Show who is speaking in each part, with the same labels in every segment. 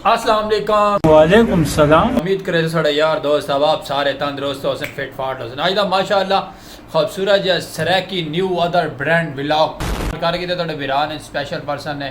Speaker 1: السلام علیکم وعلیکم السلام
Speaker 2: امید کرے سڑا یار
Speaker 1: دوست اب آپ سارے تندرست ہو سن فٹ فاٹ ہو سن آئی دا ماشاءاللہ خوبصورت جا سریکی نیو ادر برینڈ ولاگ کر گی تے تھوڑے بیران سپیشل پرسن نے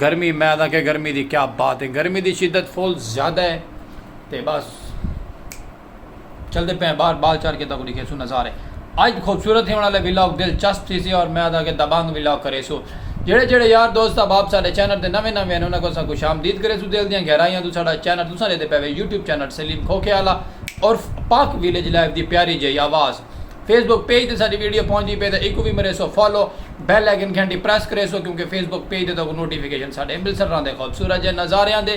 Speaker 1: گرمی میں آدھا کہ گرمی دی کیا بات ہے گرمی دی شدت فل زیادہ ہے تے بس چل دے پہ باہر بال چار کے تک دکھے سو نظارے اج خوبصورت ہی ہونا لے ویلاگ دل چست تھی سی اور میں آدھا کہ دبانگ ویلاگ کرے سو جڑے جڑے یار دوست احباب ساڈے چینل تے نویں نویں ہیں انہاں کو سا خوش آمدید کرے سو دل دیاں گہرائیاں تو ساڈا چینل تساں دے تے پہ وے یوٹیوب چینل سلیم کھوکھے آلا عرف پاک ویلیج لائف دی پیاری جئی آواز فیس بک پیج تے ساڈی ویڈیو پہنچدی پئی تاں ایکوں وی مریسو فالو بیل آئیکن گھنٹی پریس کریسو کیونکہ فیس بک پیج تے تہاکوں نوٹیفکیشن ساڈے امرتسر راں دے خوبصورت جے نظاریاں دے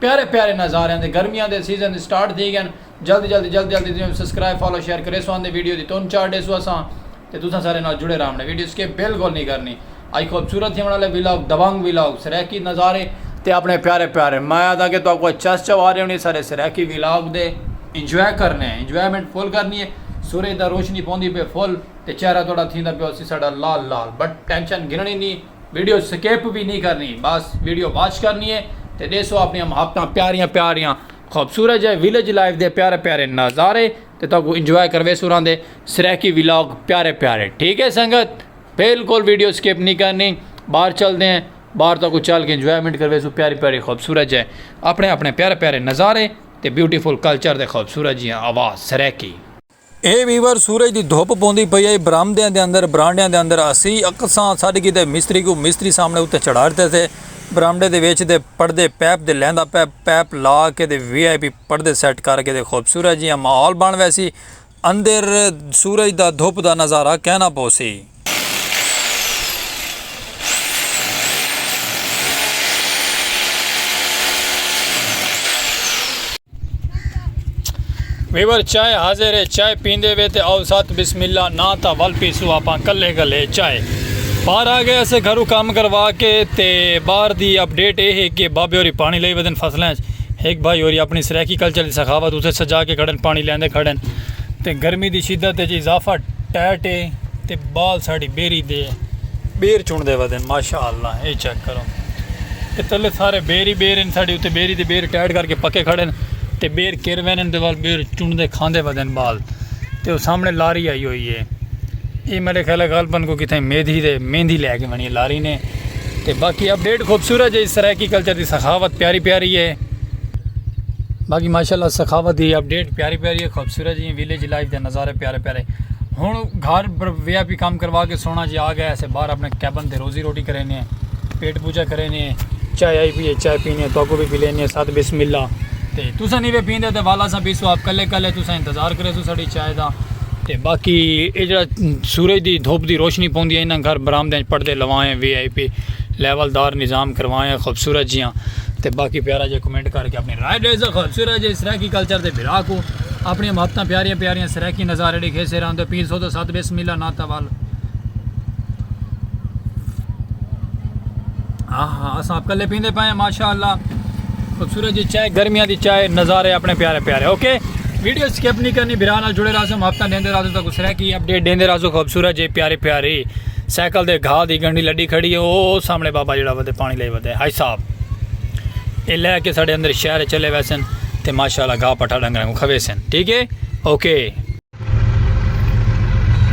Speaker 1: پیارے پیارے نظاریاں دے گرمیاں دے سیزن دی سٹارٹ تھی گئن جلدی جلدی جلدی جلدی تساں سبسکرائب فالو شیئر کریسو آندے ویڈیو دی تون چاڑھ ڈیسو اساں تے تساں سارے نال جڑے راہمنے ویڈیو سکپ بالکل نہیں کرنی۔ اج خوبصورت تھیونڑ آلے ولاگ، دبنگ ولاگ، سرائیکی نظارے تے اپنڑے پیارے پیارے میں آہداں کہ تہاکوں اج چس چواری ہونڑی اے سارے سرائیکی ولاگ دے انجوائے کرنے آں انجوائمنٹ فل کرنی اے سورج دا روشنی پوندی پئے فل تے چہرہ تہاڈا تھیندا پیا ہوسی ساڈا لال لال بٹ ٹینشن گھنڑی نی ویڈیو سکپ وی نی کرنی بس ویڈیو واچ کرنی اے تے ڈیسو اپنڑیاں محبتاں پیاریاں پیاریاں خوبصورت جئے ولیج لائف دے پیارے پیارے نظارے تے تہاکوں انجوائے کرویسوں راہندے سرائیکی ولاگ پیارے پیارے ٹھیک اے سنگت۔ بالکل ویڈیو سکپ نہیں کرنی باہر چلتے ہیں باہر تک چل کے انجوائمنٹ کروے سو پیاری پیاری خوبصورت جائے اپنے اپنے پیارے پیارے نظارے تے بیوٹیفل کلچر دے خوبصورت جیاں آواز سریکی اے ویور سورج دی دھوپ پوندی پئی اے برامدیاں دے اندر برانڈیاں دے اندر اسی اکساں ساڈ کی تے مستری کو مستری سامنے اتے چڑھا رہتے تھے برامڈے دے ویچ دے پردے پیپ دے لیندا پیپ پیپ لا کے دے وی آئی پی پردے سیٹ کر کے دے خوبصورت جیاں ماحول بن ویسی اندر سورج دا دھپ دا نظارہ کینا پوسی۔ ویور چائے حاضر ہے چائے پیندے وے تے آؤ سات بسم اللہ ناں تا ول پیسو آپاں کلے کلے چائے باہر آ گئے اسے گھرو کام کروا کے تے باہر دی اپ ڈیٹ اے ہے کہ بابے ہوری پانی لئی ودن فصلیں ہک بھائی ہوری اپنڑی سرائیکی کلچر دی سخاوت اتھے سجا کے کھڑن پانڑی لیندے کھڑن تے گرمی دی شدت اچ اضافہ ٹیٹ اے تے بال ساڈی بیری دے بیر چنڑدے ودن ماشاء اللہ اے چیک کرو تے تلے سارے بیر ہی بیر ہن ساڈی اتھے بیری دے بیر ٹیٹ کر کے پکے کھڑن تے بیر کر وینن تے وال بیر چنڑدے کھاندے ودن بال تے او سامنے لاری آئی ہوئی اے اے میرے خیال غالبا کوئی کتھے میدھی دے میندھی لے کے ونی اے لاری نے۔ تے باقی اپ ڈیٹ خوبصورت جی سرائیکی کلچر دی سخاوت پیاری پیاری ہے باقی ماشاءاللہ سخاوت دی اپ ڈیٹ پیاری پیاری ہے خوبصورت جی ویلیج لائف دے نظارے پیارے پیارے ہن گھر وی آئی پی کام کروا کے سونا جی آ گئے اسے باہر اپنے کیبن تے روزی روٹی کرے نے پیٹ پوجا کرے نے چائے آئی پیے چائے پینے تو کو بھی پی لینے ساتھ بسم اللہ تے تساں نہیں وے پیندے تے والا سا بیسو آپ کلے کلے تساں انتظار کرے سو ساڈی چاہیدا۔ تے باقی اے جیڑھا سورج دی دھپ دی روشنی پوندی اے انہاں گھر برآمدیاں اچ پڑدے لوائیں وی آئی پی لیول دار نظام کروائیں خوبصورت جیاں تے باقی پیارا جیہا کمنٹ کر کے اپنی رائے ڈیسا خوبصورت جیہے سرائیکی کلچر دے بھرا کوں اپنیاں محبتاں پیاریاں پیاریاں سرائیکی نظارے ڈیکھے سے راندے پیر سو دو ست بسم اللہ نا تا ول ہاں ہاں اساں اپ کلے پیندے پائیں ماشاءاللہ۔ سورج دی چائے گرمیاں دی چائے نظارے اپنے پیارے پیارے اوکے ویڈیو سکپ نہیں کرنی بھرا نال جڑے رہا سو ہفتہ دیندے رہا سو تاکو سرا کی اپ ڈیٹ دیندے رہا سو خوبصورت جے پیارے پیاری سائیکل دے گھا دی گنڈی لڈی کھڑی ہے او سامنے بابا جڑا ودے پانی لے ودے ہائی صاحب اے لے کے ساڈے اندر شہر چلے ویسن تے ماشاءاللہ گھا پٹھا ڈنگراں کو کھوے سن ٹھیک ہے اوکے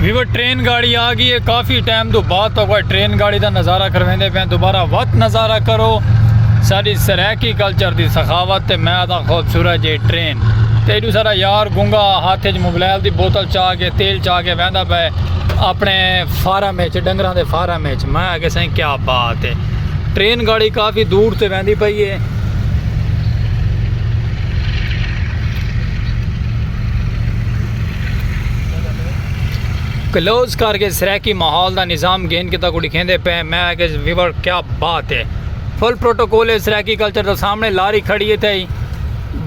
Speaker 1: ویور ٹرین گاڑی آ گئی ہے کافی ٹائم تو بعد تو کوئی ٹرین گاڑی دا نظارہ کرویندے پہ دوبارہ وقت نظارہ کرو ساری سرائیکی کلچر دی سخاوت تے میں آتا خوبصورت جے ٹرین تے ایڈو سارا یار گنگا ہاتھ جو موبائل دی بوتل چاہ کے تیل چاہ کے ویندا پہ اپنے فارم وچ ڈنگراں دے فارم وچ میں آگے سائیں کیا بات ہے ٹرین گاڑی کافی دور تے ویندی پئی ہے کلوز کر کے سریکی ماحول دا نظام گھن کے تاکو لکھیں دے پہ میں کہ ویور کیا بات ہے فل پروٹوکول ہے سریکی کلچر دا سامنے لاری کھڑی ہے تھے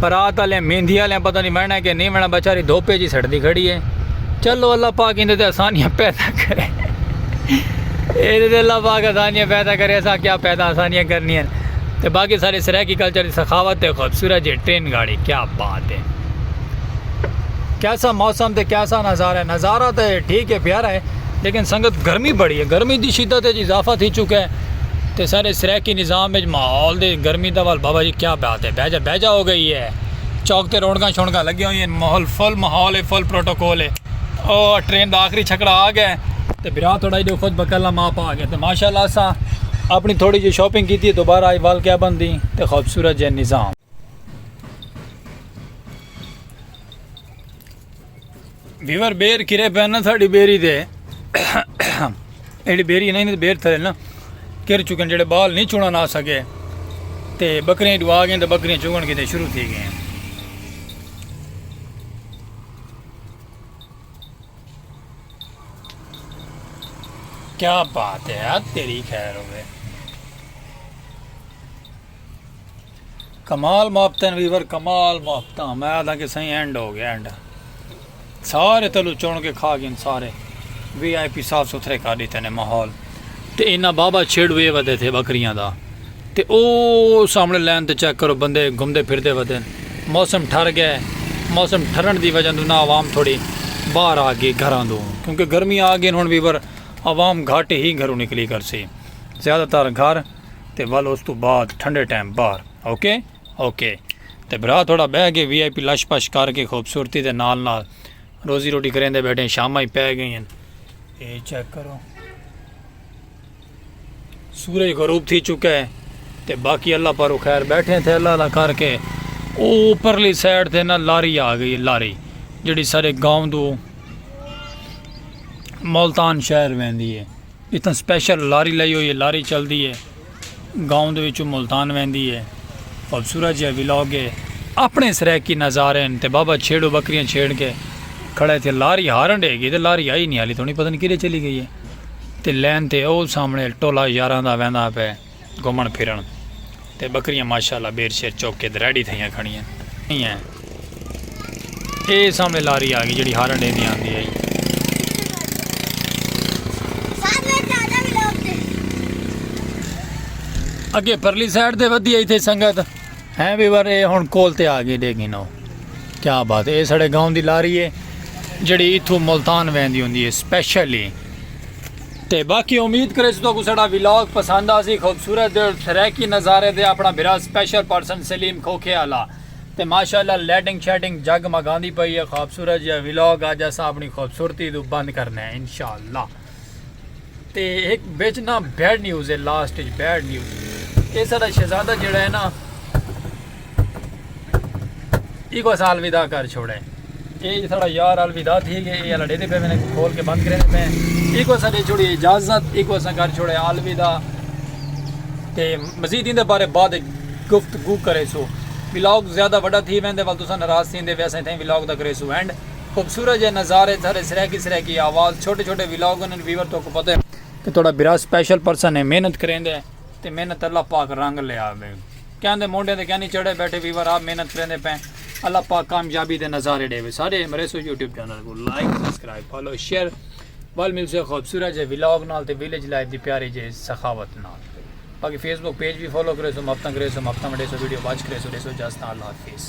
Speaker 1: برات والے مہندی والے پتہ نہیں وینا کہ نہیں وینا بیچاری دھوپے جی سڑتی کھڑی ہے چلو اللہ پاک اندے تے آسانیاں پیدا کرے اندے تے اللہ پاک آسانیاں پیدا کرے ایسا کیا پیدا آسانیاں کرنی ہیں تے باقی سارے سریکی کلچر دی سخاوت تے خوبصورت جی ٹرین گاڑی کیا بات اتے کیسا موسم تے کیسا نظارہ ہے نظارہ تے ٹھیک ہے پیارا ہے لیکن سنگت گرمی بڑی ہے گرمی دی شدت ہے جی اضافہ تھی چکا ہے تے سارے سریکی نظام ہے ماحول دے گرمی دا وال بابا جی کیا بات ہے بیجا بیجا ہو گئی ہے چوک تے رونگا شونگا لگی ہوئی ہیں ماحول فل ماحول ہے فل پروٹوکول ہے او ٹرین دا آخری چھکڑا آ گیا ہے تے برا تھوڑا جو خود بکلا ماں پا گیا تے ماشاءاللہ سا اپنی تھوڑی جی شاپنگ کیتی ہے دوبارہ آئی وال کیا بندی تے خوبصورت جے نظام ویور بیر کرے پہ نا ساڑی بیری دے ایڈی بیری نہیں تے بیر تھے نا کر چکن جڑے بال نہیں چونا نہ سکے تے بکریاں ڈوا گئے تے بکریاں چوگن کے تے شروع تھی گئے ہیں کیا بات ہے یار تیری خیر ہوئے کمال ماپتن ویور کمال ماپتا میں آدھا کہ سائیں اینڈ ہو گیا اینڈ سارے تلو چون کے کھا گئے سارے وی آئی پی صاف ستھرے کر دیتے نے ماحول تے اینا بابا چھڑ وے ودے تھے بکریاں دا تے او سامنے لین تے چیک کرو بندے گھمدے پھر دے ودے موسم ٹھر گئے موسم ٹھرن دی وجہ دو نا عوام تھوڑی باہر آ گئی گھران دو کیونکہ گرمی آ گئی ہن ویور عوام گھاٹ ہی گھروں نکلی کر سی زیادہ تر گھر تے ول اس توں بعد ٹھنڈے ٹائم باہر اوکے اوکے تے بھرا تھوڑا بہ کے وی آئی پی لش پش کر کے خوبصورتی دے نال نال روزی روٹی کریندے بیٹھے شاماں ہی پے گئی ہیں اے چیک کرو سورج غروب تھی چکا ہے تے باقی اللہ پارو خیر بیٹھے تھے اللہ دا کر کے او اوپرلی سائیڈ تے نا لاری آ گئی لاری جڑی سارے گاؤں دو ملتان شہر ویندی ہے اتھاں سپیشل لاری لائی ہوئی ہے لاری چلدی ہے گاؤں دے وچوں ملتان ویندی ہے خوبصورت جیہا ولاگ ہے اپنے سرائیکی نظارے ہن تے بابا چھیڑو بکریاں چھیڑ کے کھڑا ہے تھے لاری ہارن ڈے گی تے لاری آئی نہیں حالی تھوڑی پتہ نہیں کدھے چلی گئی ہے تے لین تے او سامنے ٹولا یاراں دا ویندا پے گھمن پھرن تے بکریاں ماشاءاللہ بیر شیر چوک کے دریڈی تھئیاں کھڑیاں ہیں ہیں اے سامنے لاری آگی جڑی ہارن ڈے دی آن دی آئی اگے پرلی سائٹ دے ودی آئی تھے سنگت ہیں بھی بار اے ہون کول تے آگی دے گی نو کیا بات ہے اے سڑے گاؤں دی لاری ہے جڑی اتھو ملتان وین دی ہوں دی ہے سپیشلی تے باقی امید کریسوں تہاکوں ساڈا ولاگ پسند آسی خوبصورت دے سرائیکی نظارے دے اپنا بھرا سپیشل پرسن سلیم کھوکھے آلا تے ماشاءاللہ لائٹنگ شائٹنگ جگ مگاندی پئی ہے خوبصورت جیا ولاگ اج اساں اپنی خوبصورتی توں بند کرنے ہیں انشاءاللہ تے ایک بیچ نا بیڈ نیوز ہے لاسٹ بیڈ نیوز اے ساڈا شہزادہ جڑا ہے نا ایک اسا الوداع کر چھوڑے اے جی ساڑا یار الوداع تھی گئے اے الڈے دے پہ میں نے کھول کے بند کرے دے پہ ایک اسا دے چھوڑی اجازت ایک اسا کر چھوڑے الوداع تے مزید ان دے بارے بعد گفتگو کرے سو ولاگ زیادہ بڑا تھی میں دے والدوسا نراز تھی دے ویسے تھے ولاگ دا کرے سو اینڈ خوبصورت جے نظارے تھارے سریکی سریکی آواز چھوٹے چھوٹے ولاگ انہوں نے ویور تو کو پتے کہ توڑا برا سپیشل پرسن ہے محنت کریں دے تے محنت اللہ پاک رنگ لے آوے کیاں دے مونڈھیں تے کیاں نی چڑھے بیٹھے ویور آپ محنت کریندے پئیں اللہ پاک کامیابی دے نظارے ڈیوے سارے امریسو یوٹیوب چینل کو لائک سبسکرائب فالو شیئر ول مل سے خوبصورت جے ولاگ نال تے ویلیج لائف دی پیاری جے سخاوت نال باقی فیس بک پیج بھی فالو کرے سو مفتاں کرے سو مفتاں وڈے سو ویڈیو واچ کرے سو ڈے سو جاستا اللہ حافظ